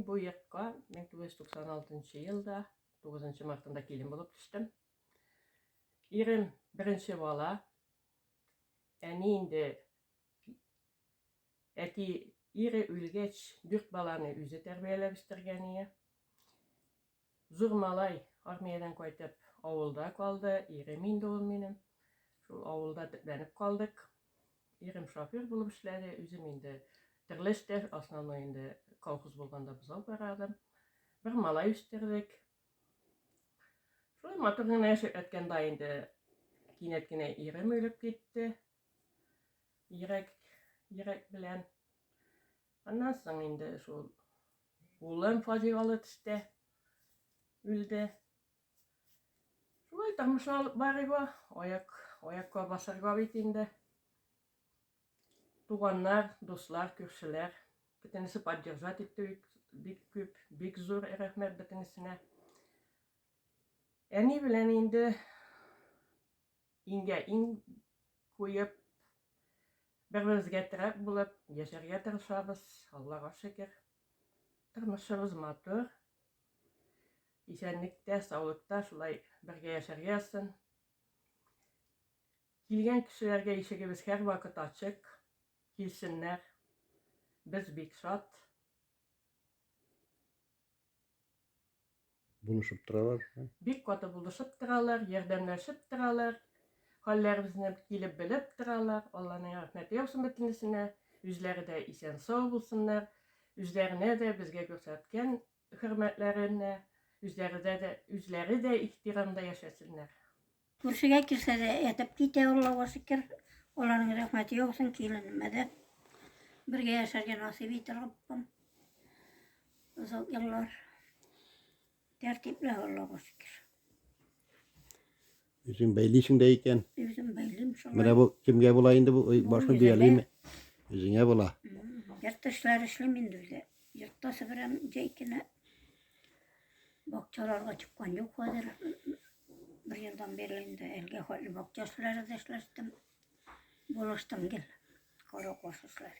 Бу якка 1996 елда 9 мартында килен булып төштем. Ирем беренче бала. Әни инде әти ире үлгәч, дүрт баланы үзе тәрбияләп үстергән ие. Зур малай армиядән кайтып авылда калды, ирем инде ул минем. Шул авылда төпләнеп калдык. Ирем шофер булып эшләде, үзем инде төрле эштә, основной инде колхоз булганда бозау карадым. Бер малай үстердек. Шулай матур гына яшәп ятканда инде кинәт кенә ирем үлеп китте. Йөрәк, йөрәк белән. Аннан соң инде шул Улым фаҗигалы төстә үлде. Шулай тамаша алып барыйба, аяк, аякка басарга бит инде. Туганнар, дуслар, күршеләр, бөтенесе поддержать итте бик күп, бик зур рәхмәт бөтенесенә. Әни белән инде Иңгә иң куеп, бер-беребезгә терәк булып яшәргә тырышабыз, Аллага шөкер. Тормышыбыз матур. Исәнлектә, саулыкта шулай бергә яшәргә язсын. Килгән кешеләргә ишегебез һәрвакыт ачык. Килсеннәр. Без бик шат. Булышып торалар. Бик каты булышып торалар, ярдәмләшеп торалар. Хәлләребезне килеп белеп торалар. Алланың рәхмәте яусын бөтенесенә. Үзләре дә исән-сау булсыннар. Үзләренә дә, безгә күрсәткән хөрмәтләренә, үзләре дә, үзләре дә ихтирамда яшәсеннәр. Күршегә килсә дә әйтеп китә, Аллага шөкер. Аларның рәхмәте яусын киленемә дә. Бергә яшәргә насыйп итте Раббым. Озак еллар. Тәртипле Аллага шөкер. Үзең бәйлисең дә икән. Үзем бәйлим шулай. Менә бу кемгә була инде бу Ой, башны үземә. бөялиме? Үзеңә була. М, Йорт эшләре эшлим инде үзе. Йортта себерәм, җәй көне. Бакчаларга чыккан юк хәзер. Бер елдан бирле инде әлгә хәтле бакча эшләре дә эшләштем. Булыштым гел. Коры кошышлар.